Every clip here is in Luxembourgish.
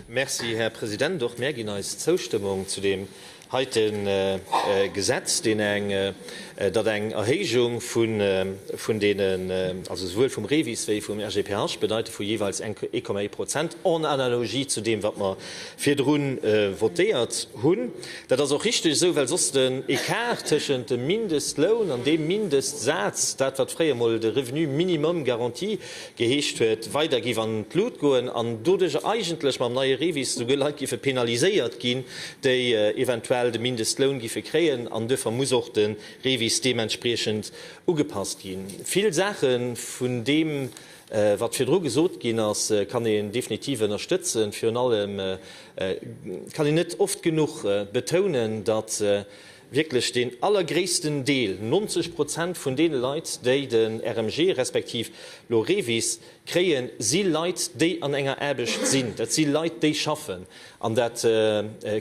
Merci, Här President. Och mär ginn eis Zoustëmmung zu deem heite Gesetz, deen eng, datt eng Erhéijung vun deenen, also souwuel vum REVIS wéi vum RGPH, bedeite vu jeeweils 1,1 Prozent, en analogie zu deem, wat mer virdru votéiert hunn. Dat ass och richtig esou, well soss den Ecart tëschent dem Mindestloun an deem Mindestsaz, dat wat fréier emol de Revenu minimum garanti Geheescht huet, weider giff an d'Lut goen an doduercher eigentlech mam neie REVIS souguer Leit giffe penaliséiert ginn, déi eventuell de Mindestloun giffe kréien an duerfer muss och de REVIS deementspriechend ugepasst ginn. Vill Saache vun deem, wat virdru gesot ginn ass, kann een definitiv ënnerstëtzen. Virun allem kann een net oft genuch betounen, datt wierklech deen allergréissten Deel, 90 Prozent vun deene Leit, déi den RMG respektiv lo REVIS kréien, si Leit, déi an enger Aarbecht sinn. Dat si Leit, déi schaffen. An dat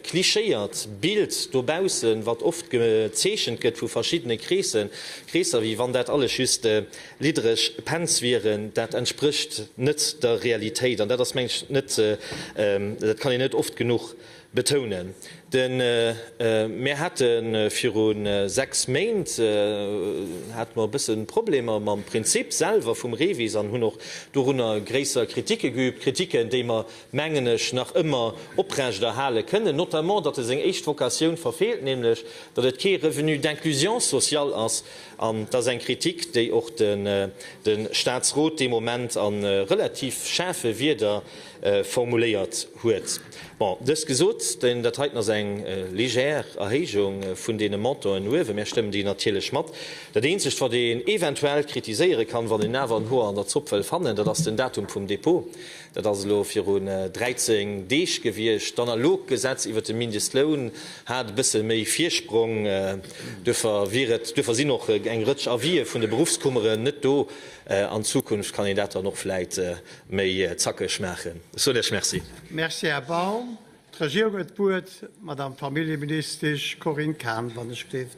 klischéiert Bild dobaussen, wat oft gezeechent gëtt vu verschiddene Kreesser, wéi wann dat alles just liddereg Pens wieren, dat entsprécht net der Realitéit. An dat ass, mengen ech, net, dat kann een net oft genuch Betounen. De mir hate viru sechs Méint hate mer e bësse Problemer mam Prinzip selwer vum REVIS an hunn och dorunner gréisser Kritike geübt, Kritiken, déi mer, mengen ech, nach ëmmer oprechterhale kënnen, notamment datt e seng éischt Vocatioun verfeelt, nämlech datt et kee Revenu d'inclusion sociale ass. An dat ass eng Kritik, déi och de Statsrot dee Moment a relativ schaarfe Wierder formuléiert huet. Bon, dëst gesot, dat heiten ass eng légère Erhéijung vun deene Montanten uewen. Mär stëmmen déi natierlech mat. Dat eenzegt, wat een eventuell kritiséiere kann, wann een awer en Hoer an der Zopp wëll fannen, dat ass den Datum vum Dépôt. Dat ass elo viru 13 Deeg gewiescht. D'analogt Gesetz iwwert de Mindestloun hat e bësse méi Virsprong. Duerfir wier et, duerfir sinn och eng Rëtsch Avisë vun de Berufskummeren net do. An Zukunft kann een dat dann och vläit Méi zackeg maachen. Ech soen Iech Merci. Merci, Här Baum. D'Regierung huet d'Wuert, d'Madame Familljeministesch Corinne Cahen, wann ech gleeft.